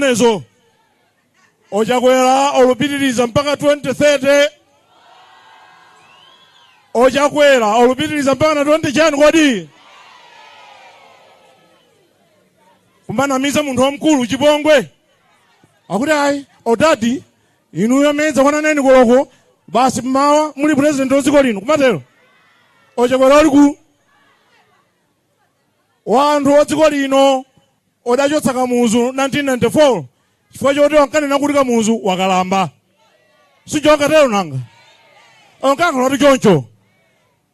zimenezo ochakwera olupitiriza mpaka 2030 ochakwera olupitiriza mpaka na 20 chani kodi kumanamiza munthu wamkulu chipongwe akuti ayi odadi inuyo medza kwananeni koloko basi mmawa muli president wa dziko lino kumatero ochakwera oliku wanthu a dziko lino odachotsa kamuzu 1994 chifukwa choti ankanena kuti kamuzu wakalamba si onkatero nanga onkankhala kuti choncho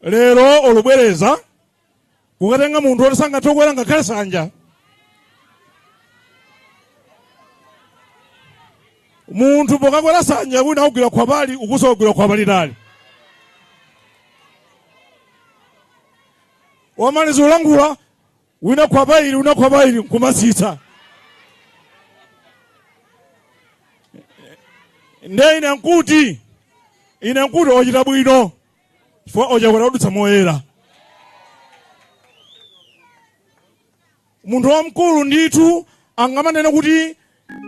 lero olubwereza kukatenga munthu oti sangathe kukwera ngakhale sanja munthu pokakwera sanja wina akugwira khwapali uku akugwira khwapali tali wamaliza kulankhula wina khwapa ili wina khwapa ili nkumatsitsa nde ine nkuti ine nkuti ochita bwino chifukwa ochakwera odutsa moyera Munthu wamkulu ndithu angamanene kuti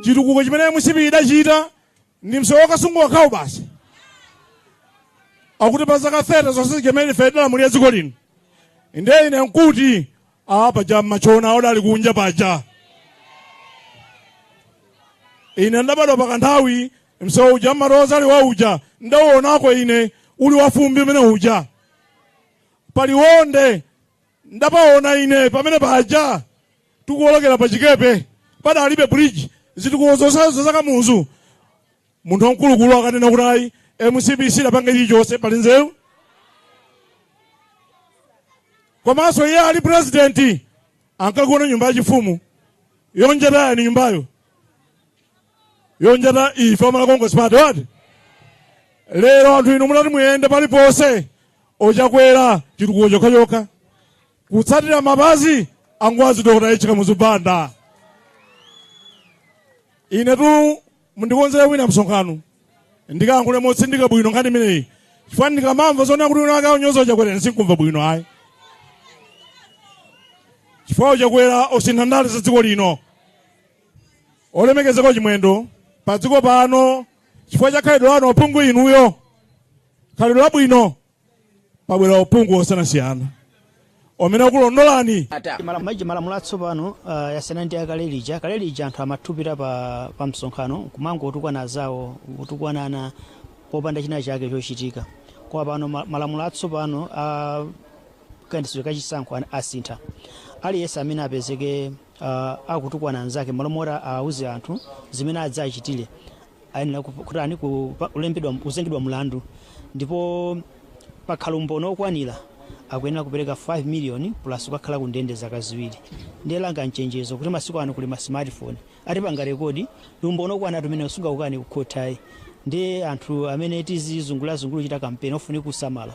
chitukuko chimene mcp idachita ndi msewu wa kasungu wakhawu basi akuti pa zaka 30 zonse zimene ife tidalamulira dziko lino ndiye ine nkuti a paja matchona awo odali kunja paja ine ndabadwa pa kanthawi msewu uja mmaroza ali wa uja ndauonako ine uli wafumbi umene uja paliwonde Ndapaona ine pamene paja tikuolokera pa chikepe padalibe bridge zitukuko zonsezo za kamuzu munthu wamkulukulu akanena kuti ayi mcp sidapanga chilichonse pali nzeru komanso iye ali president ankagona nyumba yachifumu yonjata yani nyumbayo yonjata ife a malawi congress party wati lero anthu inu munati muyende paliponse ochakwera chitukuko chokhachokha kutsatira mapazi angwazi dokota H Kamuzu Banda ine tu mundikonzere wina msonkhano ndikayankhule motsindika bwino nkhani imeneyi chifukwa ndikamamva zonena kuti wina wake akunyoza ochakwera ine sinkumva bwino ayi chifukwa ochakwera osintha ndale za dziko lino olemekezeka chimwendo pa dziko pano chifukwa cha khalidwe lanu ophungu inuyo khalidwe labwino pabwera ophungu osiyanasiyana omene akulondolani ma- malamulo atsopano ah, yasiyana ndi akale lija kale lija anthu amathupira pa, pa msonkhano nkumangotukwana azawo kutukwanana popanda china chake chochitika koma pano ma- malamulo atsopano a kayendetsedwe kachisankho an- asintha aliyense amene apezeke a akutukwana anzake malo moti awuze anthu zimene adzachitire ayenera kutani kuzengedwa mlandu ndipo pakhala umboni okwanira akuyenera kupereka 5 million plus kukakhala ku ndende zaka ziwiri ndiye langa mchenjezo kuti masiku ano kuli ma smartphone atipanga rekodi ndi umboni okwanira umene sungaukane kukhothi ayi ndiye anthu amene tizizungulirazungulira kuchita kampeni ofunika kusamala